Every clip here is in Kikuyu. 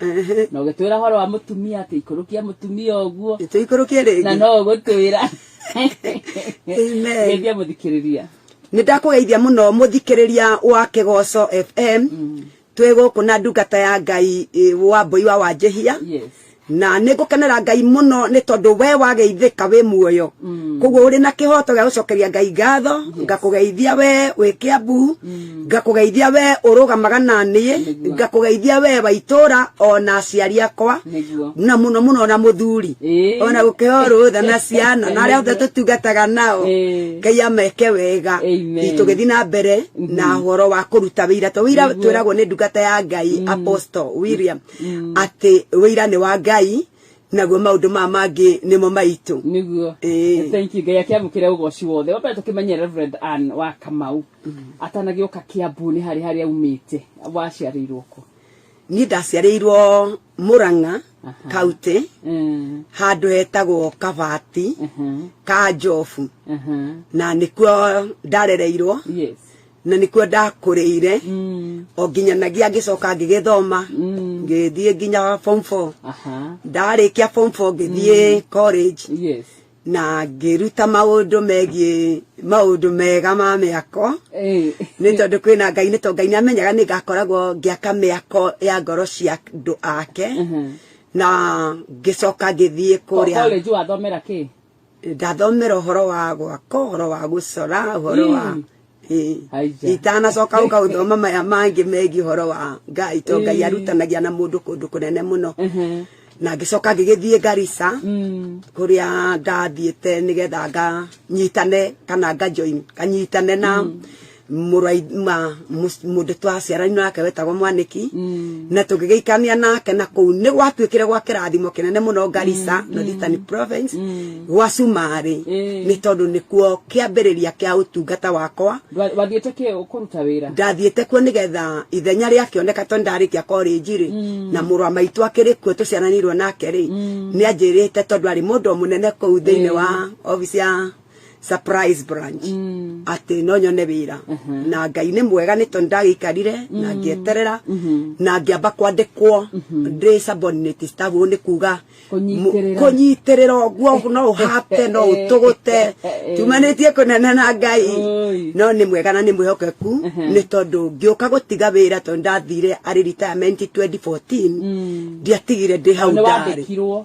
Ehe. na ũgĩtwĩra horo wa mũtumia atĩ ikũrũkia mũtumia ũguo Nĩtũikũrũkie na rĩngĩ. no ũgũtwĩra Amen. geithia mũthikĩrĩria nä ndakågeithia må no må thikä wa kigoco fm twä gå kå na ndungata ya ngai ĩ, wa mbåi wa wanjähia yes na nä ngå kenera ngai må no nä tondå we wageithä ka wä muoyo koguo å rä na kä hoto gä a gå cokeria ngai ngatho ngakå geithia we wä kä ambu ngakugeithia we urugamaga na niĩ Nĩguo. ngakugeithia we wa itũũra ona aciari akwa Nĩguo. na muno muno na muthuri Ĩĩ. ona gukeo rutha na ciana na aria othe tutungataga nao Ĩĩ. ngai ameke wega Amen. tugithi na mbere na horo wa kuruta wira to wira Nĩguo. twiragwo ni ndungata ya ngai apostle william ati wira ni wa ngai naguo maundu ma mangi nimo maitu niguo Ĩĩ. thank you ngai akiamukire ugoci wothe wambere tukimenye reverend ann wa kamau atanagioka kiambu ni hari hari aumite waciarirwo ku ni ndaciarĩirwo murang'a Aha. kauti Mm, handu hetagwo kabati mhm, ka njobu mhm. na nikuo ndarereirwo yes na nikuo ndakũrĩire o nginyanagia ngĩcoka ngĩgĩthoma ngĩthiĩ nginya form four aha ndarĩkia form four ngĩthiĩ college yes na ngĩruta maũndũ megiĩ maũndũ mega ma mĩako eh nĩ tondũ kwĩna ngai nĩ tondũ ngai nĩ amenyaga nĩ ngakoragwo ngĩaka mĩako ya ngoro cia andũ ake na ngĩcoka ngĩthiĩ kũrĩa college wathomera kĩ ndathomera ũhoro wa gwaka ũhoro wa gũcora ũhoro wa itanacoka ũka ũthoma maya mangĩ megiĩ ũhoro wa ngai to ngai arutanagia na mũndũ kũndũ kũnene mũno na ngĩcoka ngĩgĩthiĩ Garissa mm. kũrĩa ndathiĩte nĩgetha nganyitane kana ngajoin nganyitane na mm. mũraima mũndũ twaciaranirwo nake wetagwo mwaniki mm. na tũgĩgĩikania nake na kũu nĩ gwatuĩkire gwa kĩrathimo kĩnene mũno Garissa mm. Northern mm. Province gwa Cumarĩ nĩ tondũ nĩkuo kĩambĩrĩria kĩa ũtungata wakwa wathiĩte kĩ kũruta wĩra ndathiĩte kuo nĩgetha ithenya rĩakĩoneka tondũ ndarĩkia korĩnji rĩ na mũrũ wa maitũ akĩrĩ kuo tũciaranirwo nake rĩ nĩ anjĩrĩte tondũ arĩ mũndũ mũnene kũu thĩinĩ wa obici ya surprise branch atĩ no nyone wĩra na ngai nĩ mwega nĩ tondũ ndagĩikarire na ngĩeterera na ngĩamba kwandĩkwo ndĩ subordinate staff ũguo nĩ kuga Kũnyitĩrĩra. kũnyitĩrĩra ũguo no ũhate no ũtũgũte tumanĩtie kũnene na ngai Oi. no nĩ mwega na nĩ mwĩhokeku nĩ tondũ ngĩũka gũtiga wĩra tondũ ndathire arĩ retirement 2014 ndiatigire ndĩ hau ndarĩ nĩwandĩkirwo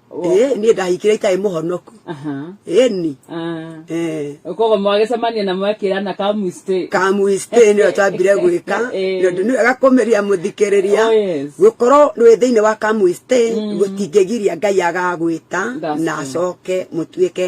ĩĩ niĩ ndahikire itarĩ mũhonoku Aha. ĩni Ah. eh, koguo mwagĩcemania na mwekĩrana ka mistake kamuistĩ nĩyo twambire gwĩka Ĩĩ. tondũ nĩ wega kũmĩria Oh, mũthikĩrĩria yes. gũkorwo wĩ thĩinĩ wa kamuistĩ gũtingĩgiria ngai agagwĩta That's na true. acoke mũtuĩke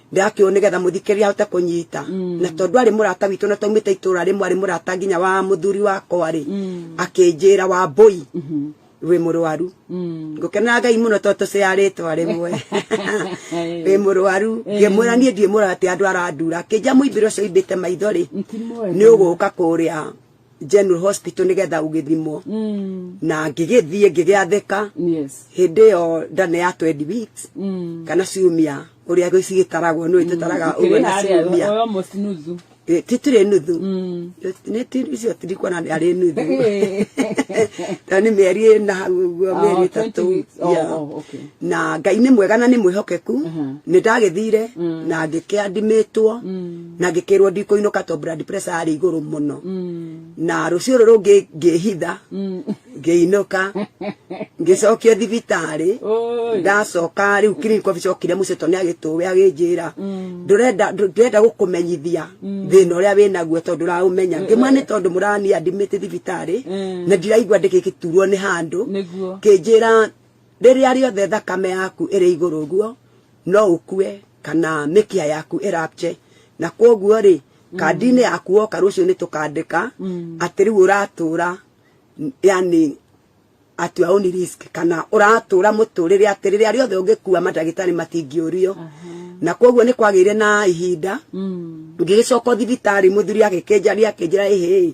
ndĩrakĩwo nĩgetha mũthikĩrĩria ahote kũnyita na tondũ arĩ mũrata witũ na taumĩte itũra rĩmwe arĩ mũrata nginya wa mũthuri wakwa rĩ akĩnjĩra wa mbũi wĩ mũrwaru ngũkenera ngai mũno tondũ tũciarĩtwo rĩmwe wĩ mũrwaru ngĩmwĩra niĩ ndiĩ mũrate andũ arandura akĩnjĩra mũimbĩro ũcio ũimbĩte maitho rĩ nĩ ũgũka kũrĩa general hospital nigetha ugithimwo mm. na ngigithie ngigiatheka yes hindi yo ndane ya 20 weeks mm. kana ciumia uria gicigitaragwo no itutaraga uguo na ciumia oyo musnuzu Eh, titire nuthu mm. ni ti icio tirikwa na ari nuthu ta ni meri ina hau uguo Oh, meri 20 tatu weeks. Oh, Yeah. oh, okay. na ngai nĩ mwega na nĩ mwĩhokeku nĩ ndagĩthire na ngĩkĩandimitwo na ngĩkĩrwo ndikũinũka to blood pressure yarĩ igũrũ mũno mm. na rũciũ rũrũ ngĩhitha mm. ngĩinũka ngĩcokio thibitarĩ ndacoka rĩu clinic office okire mũciĩ to nĩ agĩtũwe agĩnjĩra mm. ndũrenda gũkũmenyithia thĩna ũrĩa wĩ naguo tondũ ndũraũmenya ngĩmwa nĩ tondũ mũrani admit thibitarĩ na ndiraigua ndĩgĩgĩturwo nĩ handũ kĩnjĩra rĩrĩa rĩothe thakame yaku ĩrĩ igũrũ ũguo no ũkue kana mĩkiha yaku ĩrapche na kwoguo rĩ kandi-inĩ yaku woka rũciũ nĩ tũkandĩka mm. atĩ rĩu ũratũra yani at your own risk kana ũratũra mũtũrĩre atĩ rĩrĩa rĩothe ũngĩkua mandagĩtarĩ matingĩũrio na kwoguo nĩ kwagĩire na ihinda mm. ngĩgĩcoka thibitarĩ mũthuri agĩkĩnjaria akĩnjĩra ĩhĩ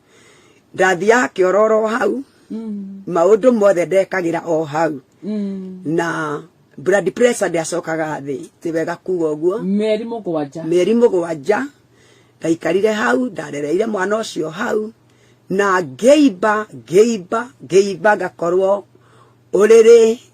ndathiaga kĩororo hau mm. maũndũ mothe ndekagira o hau mm. na blood pressure ndiacokaga thĩ ti wega kuga ũguo mĩeri mũgwanja mĩeri mũgwanja ndaikarire hau ndarereire mwana ũcio hau na ngeimba ngeimba ngeimba ngakorwo ũrĩrĩ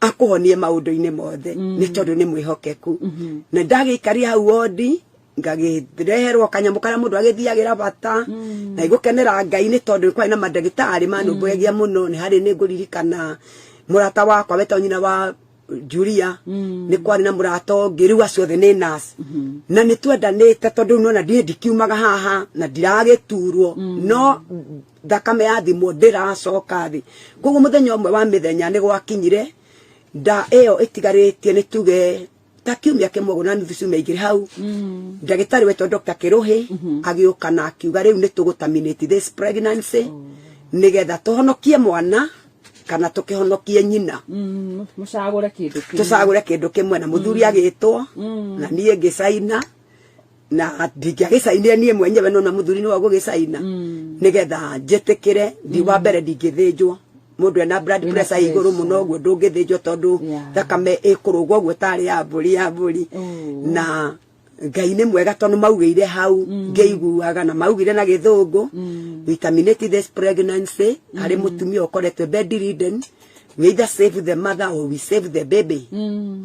akuhonie maundu-ini mothe mm. ni tondu ni mwihokeku mm-hmm. na ndagikari hau wondi ngagireherwo kanyamu karia mundu agithiagira bata mm. na igukenera ngai ni tondu kwari na mandagitari manumbuyagia mm. muno ni hari ni nguririkana murata wakwa wetwa nyina wa Julia mm. ni kwari na murata ungi riu acio othe ni nas mm-hmm. na ni twendanite tondu nona ndie ndikiumaga haha na ndiragiturwo mm. no thakame ya thimo ndĩracoka thĩ koguo mũthenya ũmwe wa mĩthenya nĩ gwakinyire nda ĩyo ĩtigarĩtie nĩ tuge ta kiumia kĩmwe ũguo na nuthu ciumia igĩrĩ hau mm. ndagĩtarĩ wetwo Dr. Kĩrũhĩ mm-hmm. agĩũka na akiuga rĩu nĩ tũgũtaminate this pregnancy oh. nĩgetha tũhonokie mwana kana tukihonokie nyina mm, mucagure kindu kimwe tucagure kindu kimwe na muthuri mm. agitwo mm. na nie ngicaina na ndingĩagĩcainire niĩ mwenyewe no na mũthuri nĩwe ũgũgĩcaina mm. nĩgetha njĩtĩkĩre ndi wa mm. mbere ndingĩthĩnjwo mundu ena blood pressure iguru muno guo ndungithinjwo tondu thakame ikurugwo guo tari ya mburi ya mburi mm. na ngai nä mwega tondå maugä hau mm. ngä na maugire na gä thå ngå mm. vitaminate this pregnancy mm. arä må tumia å koretwe bedridden we either save the mother or we save the baby mm.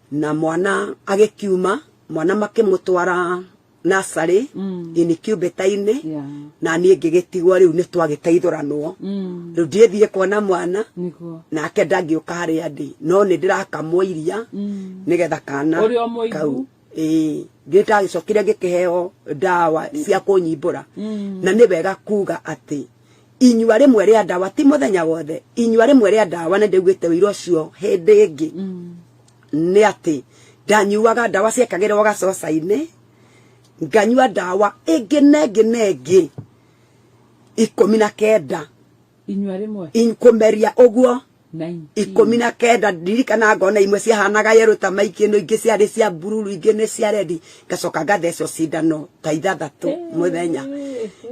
na mwana agĩkiuma mwana makĩmũtwara nasarĩ mm. incubator-inĩ yeah. na niĩ ngĩgĩtigwo rĩu nĩ twagĩteithũranwo mm. rĩu ndiĩthiĩ kuona mwana nake ndangĩũka harĩa ndĩ no nĩ ndĩrakamwo iria mm. nĩgetha kana kau ĩĩ nĩ ndagĩcokire ngĩkĩheo ndawa cia kũnyimbũra mm. na nĩ wega kuga atĩ inyua rĩmwe rĩa ndawa ti mũthenya wothe inyua rĩmwe rĩa ndawa na ndaiguĩte ũira ũcio hĩndĩ ĩngĩ mm. nĩ atĩ ndanyuaga ndawa ciekagĩrwo gacoca-inĩ nganyua ndawa ĩngĩ na ĩngĩ na ĩngĩ ikũmi na kenda inyua rĩmwe kũmeria ũguo ikũmi na kenda ndirikana ngona imwe ciahanaga yerũ ta maingĩ no ingĩ ciarĩ cia bururu ingĩ nĩ cia rendi ngacoka ngathecwo cindano ta ithathatũ mũthenya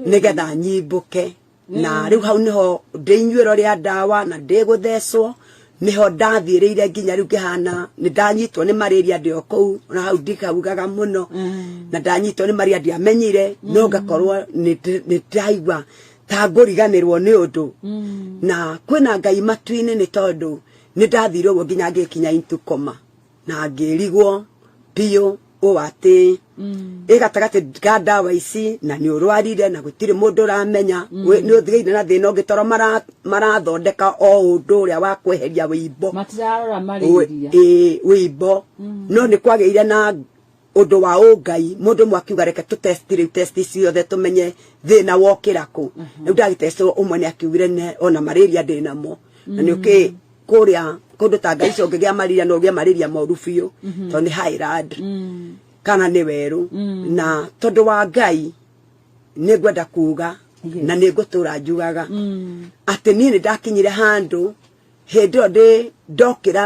nĩgetha nyimbũke na mm. rĩu hau nĩho ndĩ inyuĩro rĩa ndawa na ndĩ gũthecwo niho ndathiĩrĩire nginya rĩu ngĩhana nĩ ndanyitwo nĩ marĩria ndĩ o kũu na hau ndikaugaga mũno mm. na ndanyitwo nĩ marĩria ndiamenyire no mm. ngakorwo nĩ ndaigua tangũriganĩrwo nĩ ũndũ mm. na kwĩna ngai matu-inĩ nĩ tondũ nĩ ndathire ũguo nginya ngĩkinya into koma na ngĩrigwo biũ ũũ atĩ mm. ĩ gatagatĩ ga ndawa ici na nĩ ũrwarire na gũtirĩ mũndũ ũramenya mm. nĩ ũthigĩire na thĩna ũngĩ toro marathondeka o ũndũ ũrĩa wa kweheria wĩimbo wĩimbo no nĩ kwagĩire na ũndũ wa ũngai mũndũ ũmwe akiuga reke tũ test rĩu test ciothe tũmenye thĩna wokĩra kũ rĩu ndagĩtestwo ũmwe nĩ akiugire ne ona malaria ndĩ namo na nĩ ũkĩ kũrĩa kũndũ ta ngai icio ũngĩgĩa malaria no ũgĩe malaria moru biũ tondũ nĩ highland kana nĩ werũ na tondũ wa ngai nĩ ngwenda kuga na nĩ ngũtũra njugaga atĩ niĩ nĩ ndakinyire handũ hĩndĩ ĩyo ndĩ ndokĩra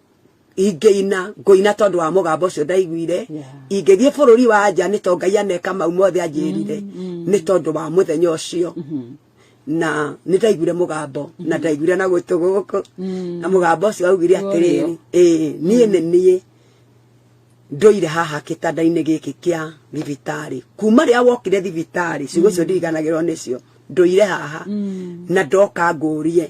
ingĩina ngũina tondũ wa mũgambo ũcio ndaiguire ingĩthiĩ bũrũri wa nja nĩ tondũ ngai aneka mau mothe anjĩrire mm, mm. nĩ tondũ wa mũthenya ũcio mm-hmm. na nĩ ndaiguire mũgambo na mm-hmm. ndaiguire na gwĩtũ gũkũ mm. na mũgambo ũcio augire atĩrĩrĩ ĩĩ niĩ nĩ niĩ ndoire haha kitanda-inĩ giki kia thibitari kuma ria wokire thibitari ciugo cio mm. ndiriganagirwo nicio ndoire haha mm. na ndoka ngurie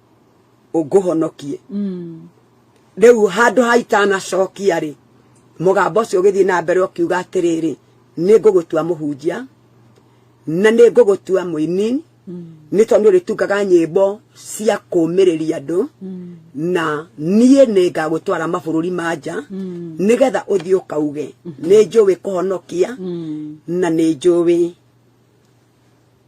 ũngũhonokie mm. rĩu handũ ha itanacokia rĩ mũgambo ũcio ũgĩthiĩ na mbere ũkiuga atĩrĩrĩ nĩ ngũgũtua mũhunjia na nĩ ngũgũtua mũini mm. nĩ tondũ ũrĩtungaga nyĩmbo cia kũmĩrĩria andũ mm. na niĩ nĩ ngagũtwara mabũrũri ma nja mm. nĩgetha ũthiĩ ũkauge mm-hmm. nĩ njũĩ kũhonokia na nĩ njũĩ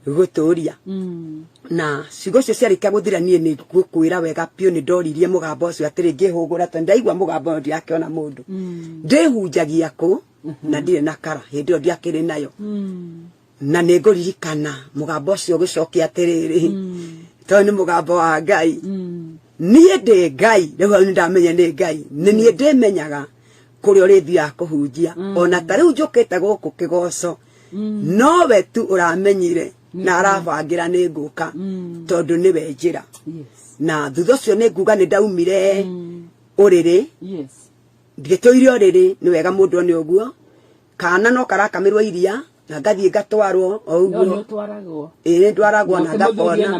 gũtũria mm. na ciugo icio ciarĩkia gũthira niĩ nĩ ngũkwĩra wega biũ nĩ ndoririe mũgambo ũcio atĩrĩ ngĩhũgũra tondũ ndaigua mũgambo ũyũ ndirakĩona mũndũ mm. ndĩhunjagia kũ mm-hmm. na ndirĩ na kara hĩndĩ ĩyo ndiakĩrĩ nayo mm. na nĩ ngũririkana mũgambo ũcio ũgĩcokia atĩrĩrĩ tondũ nĩ mũgambo wa ngai niĩ ndĩ ngai rĩu hau nĩ ndamenya nĩ ngai nĩ niĩ ndĩmenyaga kũrĩa ũrĩthiaga kũhunjia ona ta rĩu njũkĩte gũkũ kĩgoco nowe tu ũramenyire na arabangira ni nguka tondu ni we njira na thutha ucio ni nguga ni ndaumire uriri ngituire uriri ni wega mundu ni uguo kana no karakamirwo iria na ngathie ngatwarwo o uguo ni ndwaragwo na ngakona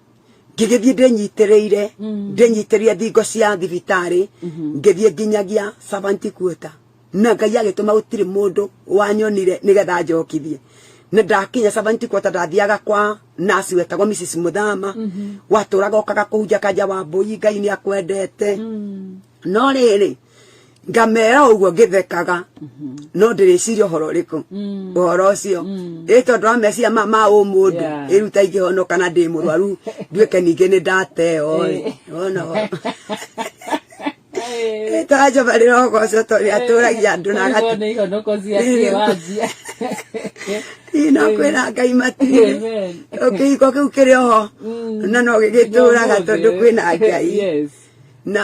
ngĩgĩthiĩ ndĩnyitĩrĩire mm. ndĩnyitĩrĩire thingo cia thibitarĩ mm-hmm. ngĩthiĩ nginyagia savanti kuota na ngai agĩtũma gũtirĩ mũndũ wanyonire nĩgetha njokithie na ndakinya savanti kuota ndathiaga kwa nasi wetagwo mrs muthama mm-hmm. watũraga okaga kũhunja kanja wa mbũi ngai nĩ akwendete mm. no rĩrĩ ngamera ũguo ngĩthekaga mhm. no ndĩrĩciria ũhoro ũrĩkũ mm. ũhoro ũcio mm. ĩ tondũ wa meciria ma ma ũ mũndũ ĩruta ingĩhonoka na ndĩ mũrwaru nduĩke ningĩ nĩ ndateo wona rĩtwa njova rĩrogocwo tondũ rĩatũragia andũ na no kwĩra ngai matirĩ kĩhiko kĩu kĩrĩ oho mm. na no gĩgĩtũraga tondũ kwĩna ngai na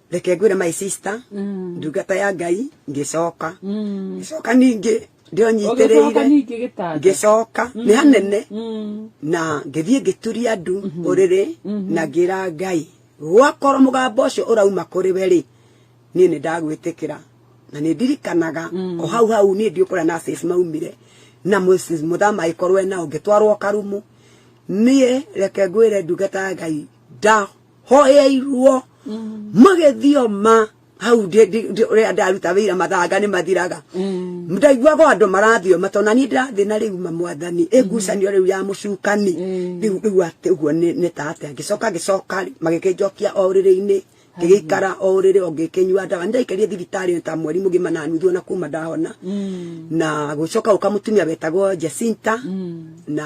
reke ngwĩre my sister Mm. ndungata ya ngai ngĩcoka Mm. ngĩcoka ningĩ ndĩo Ũgĩcoka nyitĩrĩire ningĩ gĩtanda. ngĩcoka nĩ hanene Mm. na ngĩthiĩ ngĩturia ndu ũrĩrĩ na ngĩra ngai gwakorwo mũgambo ũcio ũrauma kũrĩ we rĩ niĩ nĩ ndagwĩtĩkĩra na nĩ ndirikanaga o hau hau niĩ ndiũ kũrĩa nurses maumire na Mrs. mũthama agĩkorwo e nao ngĩtwarwo karumu niĩ reke ngwĩre ndungata ya ngai nda hoyairwo mm. magĩthioma hau rĩa ndaruta wĩira mathanga nĩ mathiraga mm. ndaiguaga andũ marathioma tondũ na niĩ ndĩrathiĩ na rĩu mamwathani mm. ĩngucanio rĩu ya mũcukani mm. rĩu rĩu atĩ ũguo nĩ ta atĩa ngĩcoka ngĩcoka magĩkĩnjokia o rĩrĩ-inĩ ngĩgĩikara o rĩrĩ o ngĩkĩnyua ndawa nĩ ndaikarie thibitarĩ ta mweri mũgima na nuthu ona kuma ndahona na gũcoka gũka mũtumia wetagwo Jacinta na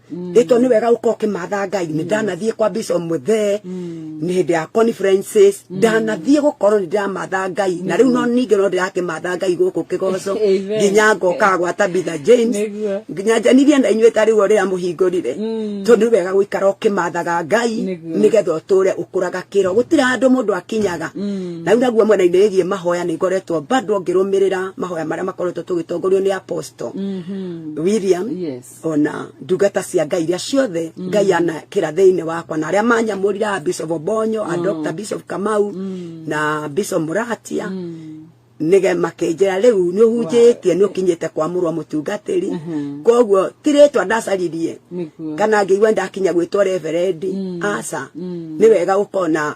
mm. ito ni wega uko kimatha ngai ni mm. ndanathie kwa bishop muthe mm. ni hindi ya conferences ndanathie gukorwo ni ndamatha ngai na riu no ninge no ndirakimatha ngai guku kigoco nginya ngoka gwa tabitha james nginya njanirie na inyuĩ ta rĩu rĩrĩa mũhingũrire tondũ nĩ wega gũikara ũkĩmathaga ngai nĩgetha ũtũre ũkũraga kĩro gũtirĩ handũ mũndũ akinyaga na rĩu naguo mwena-inĩ wĩgiĩ mahoya nĩ ngoretwo bado ngĩrũmĩrĩra mahoya marĩa makoretwo tũgĩtongorio nĩ apostle mm-hmm. william ona ndungata cia ngai iria ciothe mm. ngai ana kira thiini wakwa na aria manyamurira bishop bonyo a mm. dr bishop kamau mm. na bishop muratia nige makinjira riu ni uhunjitie ni ukinyite kwa murwa mutungatiri mm-hmm. koguo tiritwa ndacaririe kana ngiigua ndakinya gwitwa reverendi aca ni wega ukona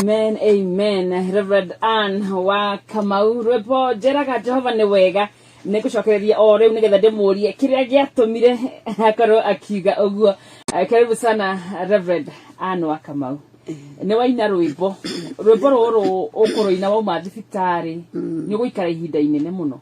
amen amen reverend ann wa kamau rwimbo njeraga jehova nĩ wega nĩ kũcokereria o rĩu nĩgetha ndĩmũrie kĩrĩa gĩatũmire akorwo akiuga ũguo Eh, karibu sana reverend ann wa kamau nĩ waina rwĩmbo rwĩmbo rũrũ ũkũrũina wauma thibitarĩ nĩ ũgũikara ihinda inene mũno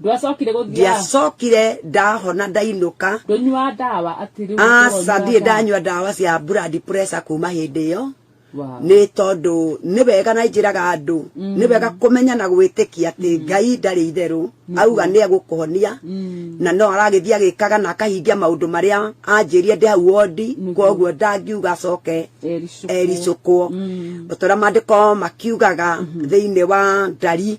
ndwacokire gũthiaga ndiacokire ndahona ndainũka ndũnyua ndawa atĩ rĩu aca ũkũrwo nyua ndirĩ ndawa. ndanyua ndawa cia blood pressure kuma hĩndĩ ĩyo Wow. nĩ tondũ nĩ wega na njĩraga andũ nĩ wega kũmenya na gwĩtĩkia atĩ ngai ndarĩ itherũ auga nĩ egũkũhonia Mm. na no aragĩthiĩ agĩkaga na akahingia maũndũ marĩa anjĩrie ndĩ hau wondi Nĩguo. koguo ndangiuga acoke Ericũkwo. ericũkwo Mm. o ta ũrĩa maandĩko makiugaga thĩinĩ wa ndari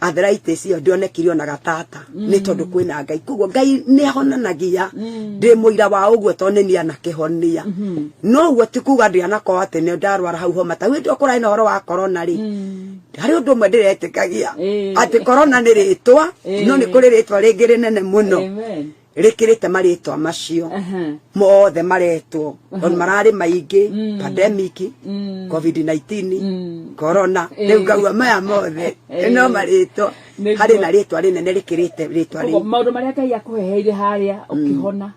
arthritis iyo ndionekire ona gatata mm. ni tondu kwina ngai koguo ngai ni ahonanagia mm. ndi muira wa uguo to ni ana kihonia mm-hmm. no guo ti kuga ndi ana ko ati ni ndarwara hau homa ta windu okora ina horo wa corona ri mm. hari undu mwe ndiretikagia eh. ati corona ni ritwa eh. no ni kuri ritwa ringi rinene muno rikirite maritwa macio mothe maretwo on marari maingi mm. pandemic mm. covid 19 mm. corona eh. riu ngagua maya mothe eh. no maritwa hari na ritwa rinene rikirite ritwa ri maundu maria ngai akuheheire haria ukihona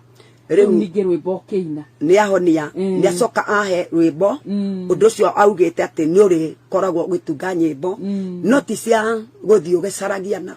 riu ningi rwimbo ukiina ni ahonia ni acoka ahe rwimbo undu ucio augite ati ni uri koragwo ugitunga nyimbo no ti cia guthii ugicaragia na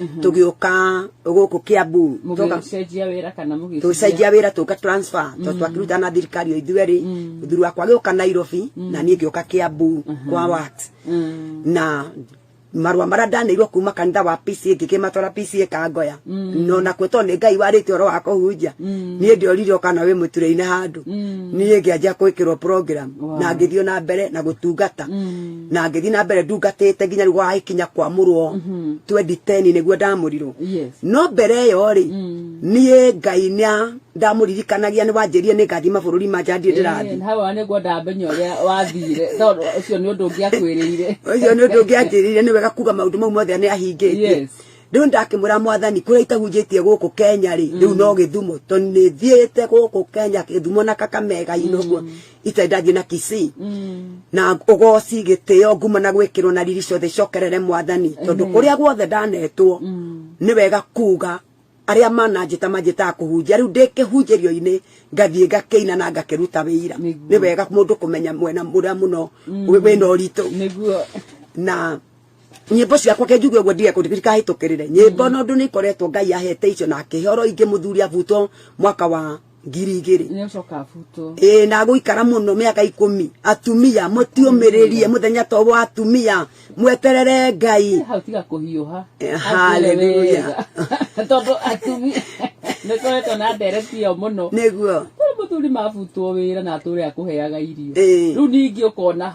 mhm. tũgĩũka gũkũ kĩambu tũcenjia wĩra tũka transfer tondũ mhm. twakĩruta na thirikari o ithuĩ rĩ mũthuri mm. wakwa agĩũka nairobi mm. na niĩ ngĩũka kĩambu mhm. kwa wat mm. na marua maria ndaneirwo kuma kanitha wa PCA ngikimatwara PCA kangoya mm. no na kweto ni ngai warite oro wa kuhunjia mm. nie ndiorire kana we muture-ini handu mm. nie ngianjia kwikirwo program na ngithio na mbere na gutungata na ngĩthiĩ na mbere ndungatĩte nginya rĩu gwakinya kwamũrwo 2010 nĩguo ndamũrirwo Yes. no mbere ĩyo rĩ niĩ ngai nĩa ndamũririkanagia nĩ wanjĩrire nĩ ngathiĩ mabũrũri ma nja ndiĩ ndĩrathiĩ Eh, hawa nĩguo ndamenya ũrĩa wathire tondũ ũcio nĩ ũndũ ũngĩakwĩrĩire ũcio nĩ ũndũ ũngĩanjĩrĩire nĩ wega kuga maũndũ mau mothe nĩ ahingĩtie Yes. riu ndakimwira mwathani kuria itahunjitie guku Kenya ri riu no githumo to ni thiete guku Kenya githumo na kakamega inoguo ita ndathie na kisi na ugoci gitio nguma na gwikirwo na riri ciothe cokerere mwathani tondu kuria guothe ndanetwo ni wega kuga aria mananjita manjitaga kuhunjia riu ndikihunjirio-ini ngathie ngakiina na ngakiruta wira Nĩguo. ni wega mundu kumenya mwena muria muno wina uritu niguo na nyimbo ciakwa ke njuge guo ndige kundirika hitukirire nyimbo no ndu ni koretwo ngai ahete icio na kihoro ingi muthuri abutwo mwaka wa ngiri igiri ä na gå ikara må no mä aka ikå mi atumia må tiåmä rä rie må thenya to wa atumia mweterere ngai tondå atumia nä koretwo na ndereti ä yo må no nä guo må thuri mabutwo wä ra na atå re akå heaga irio rä u ningä å kona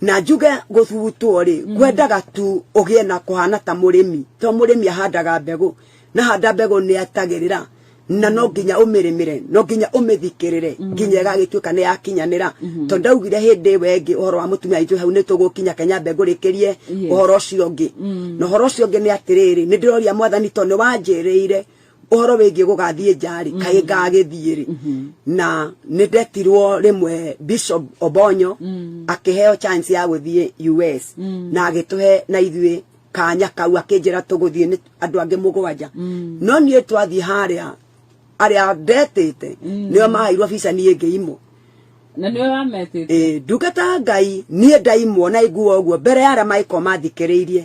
na njuge gũthugutwo rĩ mm. ngwendaga tu ũgĩe na kũhana ta mũrĩmi to mũrĩmi ahandaga mbegũ na handa mbegũ nĩ atagĩrĩra na no nginya ũmĩrĩmĩre no nginya ũmĩthikĩrĩre mm. nginya ĩgagĩtuĩka nĩ yakinyanĩra mm-hmm. tondũ ndaugire hĩndĩ ĩwe ĩngĩ ũhoro wa mũtumia aitũ hau nĩ tũgũkinya kenya mbegũ rĩkĩrie ũhoro ũcio ũngĩ mm. na ũhoro ũcio ũngĩ nĩ atĩrĩrĩ nĩ ndĩroria mwathani tondũ nĩ wanjĩrĩire ũhoro wĩgiĩ gũgathiĩ njarĩ mm. kaĩ ngagĩthiĩ rĩ mm-hmm. na nĩ ndetirwo rĩmwe bishop obonyo mm. akĩheo chance ya gũthiĩ us mm. na agĩtũhe na ithuĩ kanya kau akĩnjĩra tũgũthiĩ nĩ andũ angĩ mũgwanja no niĩ twathiĩ harĩa arĩa ndetĩte nĩo mahairwo bica niĩ ngĩimwo na niwe wametĩte ndungata ngai niĩ ndaimwo na iguo ũguo mbere ya arĩa maĩkorwo mathikĩrĩirie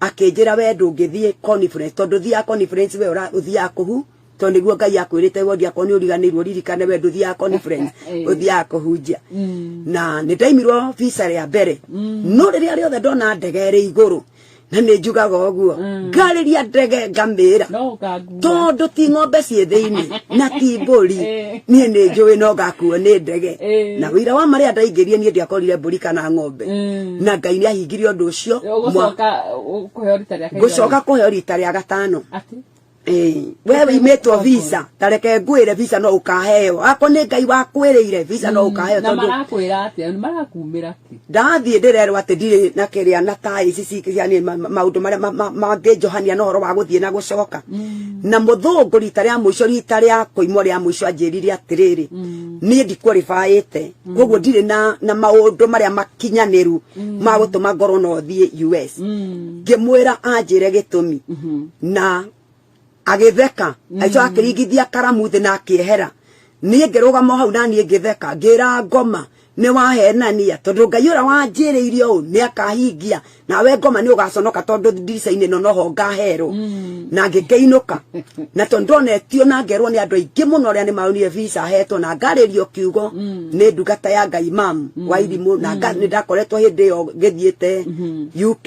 akĩnjĩra we ndũngĩthiĩ conference tondũ thiaga conference we ũthiaga kũhu to niguo ngai akwirite we ndia ko ni uriganirwo ririkane we nduthiaga conference eh. uthiaga kuhunjia mm. na ni ndaimirwo visa ria mbere mm. no riria riothe ndona ndege ri iguru na ni njugaga uguo mm. ngariria ndege ngamira tondu ti ng'ombe ciĩ thĩinĩ na ti mbũri eh. niĩ nĩ njũĩ no ngakuo nĩ ndege eh. na wĩira wa marĩa ndaingĩrie niĩ ndiakorire mbũri kana ng'ombe eh. na ngai nĩ ahingire ũndũ ũcio ngũcoka kũheo rita rĩa gatano we wimĩtwo visa tareke ngwĩre visa no ũkaheo akwa nĩ ngai wakwĩrĩire visa no ũkaheo tondũ Ndathiĩ ndĩrerwo atĩ ndirĩ na kĩrĩa na ta ici cingĩ cia niĩ maũndũ marĩa mangĩnjohania na ũhoro wa gũthiĩ na gũcoka mm. na mũthũngũ rita rĩa mũico rita rĩa kũimwo rĩa mũico anjĩrire atĩrĩrĩ mm. niĩ ndikwaribaĩte mm. koguo ndirĩ na na maũndũ marĩa makinyanĩru ma gũtũma ngorwo no thiĩ US ngĩmwĩra anjĩre gĩtũmi mm-hmm. na agĩtheka aicoka akĩringithia karamu thĩ na akĩehera niĩ ngĩrũgama hau na niĩ ngĩtheka ngĩra ngoma nĩ wahenania tondũ ngai ũrĩa wanjĩrĩire ũũ nĩ akahingia nawe ngoma nĩ ũgaconoka tondũ ndirica-inĩ ĩno noho ngaherwo mm. na ngĩkĩinũka na tondũ ndonetio na ngerwo nĩ andũ aingĩ mũno arĩa nĩ maonire visa hetwo na ngarĩrio kiugo mm. nĩ ndungata ya ngai mam mm. wa irimũ na nĩ ndakoretwo hĩndĩ ĩyo ngĩthiĩte mm-hmm. uk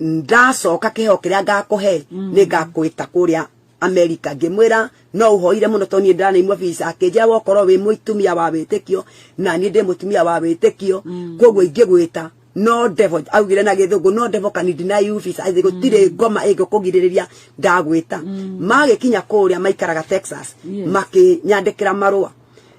ndacoka kĩheo kĩrĩa ngakũhe mm. nĩ ngakũĩta kũrĩa amerika ngĩmwĩra no ũhoire mũno tondũ niĩ ndĩranaimua visa akĩnjĩra wokorwo wĩ mũtumia wa wĩtĩkio na niĩ ndĩ mũtumia wa wĩtĩkio mm. koguo ingĩgwĩta no devil augire na githungu no devil can deny you visa athi gutire mm. ngoma ingo kugiririria ndagwita mm. magikinya kuria maikaraga Texas makinyandikira marua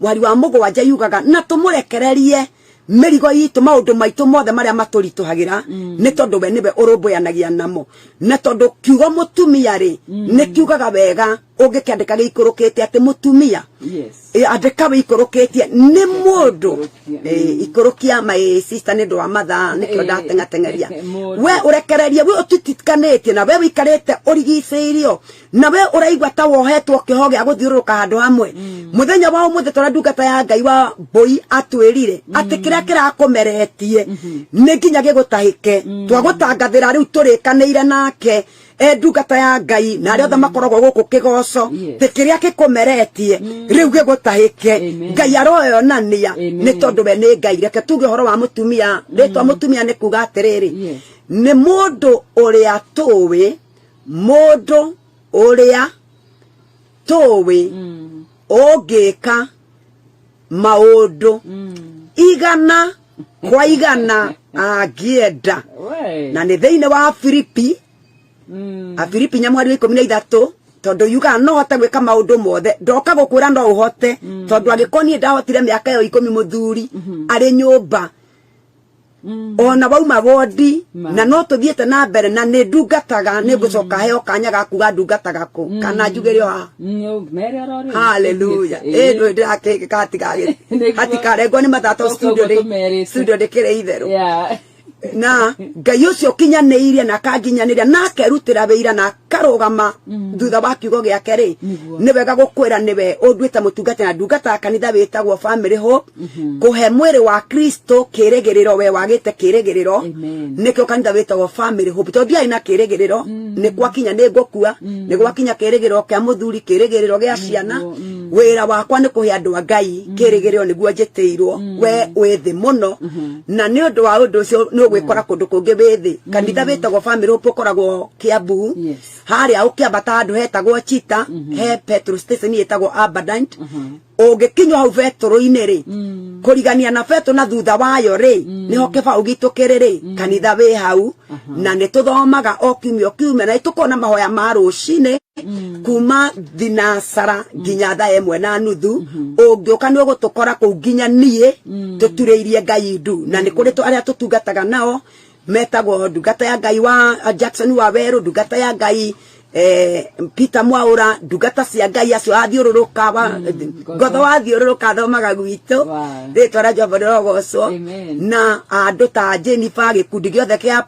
mwari wa mũgwanja yugaga na tũmũrekererie mĩrigo itũ maũndũ maitũ mothe marĩa matũritũhagĩra mm. nĩ tondũ we nĩwe ũrũmbũyanagia namo na tondũ kiugo mũtumia rĩ mm. nĩ kiugaga wega ũngĩkĩandĩka gĩikũrũkĩte atĩ mũtumia andĩka wĩikũrũkĩtie nĩ mũndũ mm. ikũrũkia my sister nĩ ũndũ wa mathaa nĩkĩo ndatengatengeria we ũrekererie we ũtitikanĩtie na we wĩikarĩte ũrigicĩirio na we uraigua ta wohetwo kiho gia guthiururuka handu hamwe mm. muthenya wa umuthi tora ndungata ya ngai wa mbui atwirire mm. ati kiria kirakumeretie mm-hmm. ni nginya gigutahike mm. twagutangathira riu turikanire nake e ndungata ya ngai na aria othe mm. makoragwo guku kigoco ti kiria gikumeretie mm. riu gigutahike ngai aroyonania ni tondu we ni ngai reke tuge horo wa mutumia ritwa mutumia ni kuga atiriri ni mundu uria tuwi mũndũ ũrĩa tũwĩ mm. ũngĩka maũndũ mm. igana kwa igana angĩenda na nĩ thĩinĩ wa filipi mm. a filipi nyamwari wa ikũmi na ithatũ tondu yuga no hote gwika maundu mothe ndoka gukwira no uhote mm. tondu angikoni ndahotire miaka yo ikumi muthuri mm-hmm. ari nyumba mm. ona wauma wondi na no tuthiite na mbere na ni ndungataga ni ngucoka mm. heo kanya ga kuga ndungataga ku mm. kana njugire ha haleluya eh ndu ndirake katiga hatikarengwo ni mathato studio ni studio ndikire itheru na ngai ucio kinyanä na akanginyaniria na akerutira wä ira na karugama mm. thutha wa kiugo giake ri ni wega gukwira ni we unduite mutungati na ndungata kanitha witagwo family ho mm-hmm. kuhe mwiri wa kristo kirigiriro we wagite kirigiriro nikio kanitha witagwo family ho to ndiai na kirigiriro mm. ni gwakinya ni ngukua mm. ni gwakinya kirigiriro kia muthuri kirigiriro gia ciana wira wakwa ni kuhe andu a ngai kirigiriro niguo njitiirwo we wi thi muno mm-hmm. na ni undu wa undu ucio ni ugwikora kundu kungi wi thi kanitha witagwo family ho ukoragwo kiambu Yes. harĩa ũkĩambata handũ hetagwo chita he petrol station ĩtagwo abundant ũngĩkinywo hau betũrũ-inĩ rĩ kũrigania na betũ na thutha wayo rĩ nĩho kĩbaũ gitũ kĩrĩ rĩ kanitha wĩ hau na nĩ tũthomaga o kiumia o kiumia na nĩ tũkoragwo na mahoya ma rũcinĩ kuma thinasara nginya thaa ĩmwe na nuthu ũngĩũka nĩ ũgũtũkora kũu nginya niĩ tũturĩirie ngai ndu na nĩ kũrĩ tũ- arĩa tũtungataga nao metagwo ndungata ya ngai wa uh, jackson wa werå ndungata ya ngai eh, peter mwaura ndungata cia ngai acio athiũrũrũka wa- Mm, ngotho wathiũrũrũka thomaga gwitå Wow. rĩtwa rĩa jehova rĩrogocwo Amen. na andå ta jenifa gä kundi gä othe kä a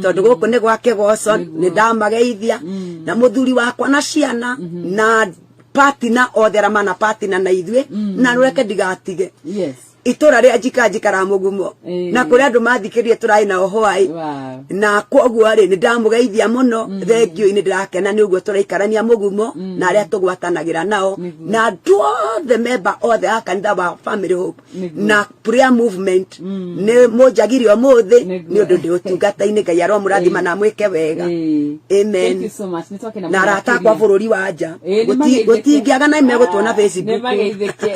tondå gå kå nä gwake goco Nĩguo. nä ndamageithia Mm. na må thuri wakwa na ciana na patina othe aramana patina na ithuä na rå reke ndigatige Yes. itũra rĩa njikanji karamugumo Eh. na kũrĩ andũ mathikĩrĩrie tũrarĩ na ũhwaĩ Wow. na kwoguo rĩ nĩ ndamũgeithia mũno thengiũ nĩ ndĩrakena nĩ ũguo tũraikarania mũgumo na arĩa tũgwatanagĩra nao Nĩguo. na andũ othe memba othe a kanitha wa family hope Nĩguo. na prayer movement nĩ mũnjagire ũmũthĩ Nĩguo. nĩ ũndũ ndĩ ũtungata-inĩ ngai aromũrathima na mwĩke wega Eh. Amen. Thank you so much. Nĩtwakena na mũno arata akwa makĩria. bũrũri wa nja Ĩĩ, nĩmageithĩke. gũtingĩaga na megũtuona Nĩ facebook mageithĩke.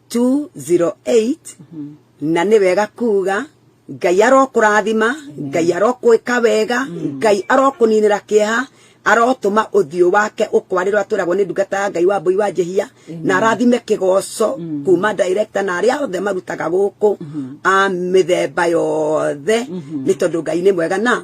208 na nĩ wega kuga ngai arokũrathima ngai arokwĩka wega ngai arokũninĩra kĩeha arotũma ũthiũ wake ũkwarĩrwo atwĩragwo nĩ ndungata ya ngai wa mbũi wa njehia na arathime kĩgoco kuma director na arĩa othe marutaga gũkũ a mĩthemba yothe nĩ tondũ ngai nĩ mwega na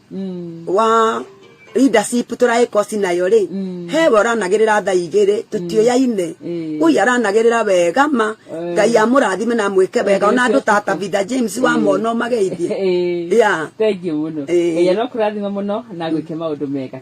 mm. wa leadership turaika cinayo ri mm. he we uranagirira tha igiri tutioyaine mm. ui aranagirira wega ma eh. ngai amurathime na mwike wega ona andu ta tabitha james wa eh. mona mageithie ya thank you muno ya no kurathima muno na gwike maundu mega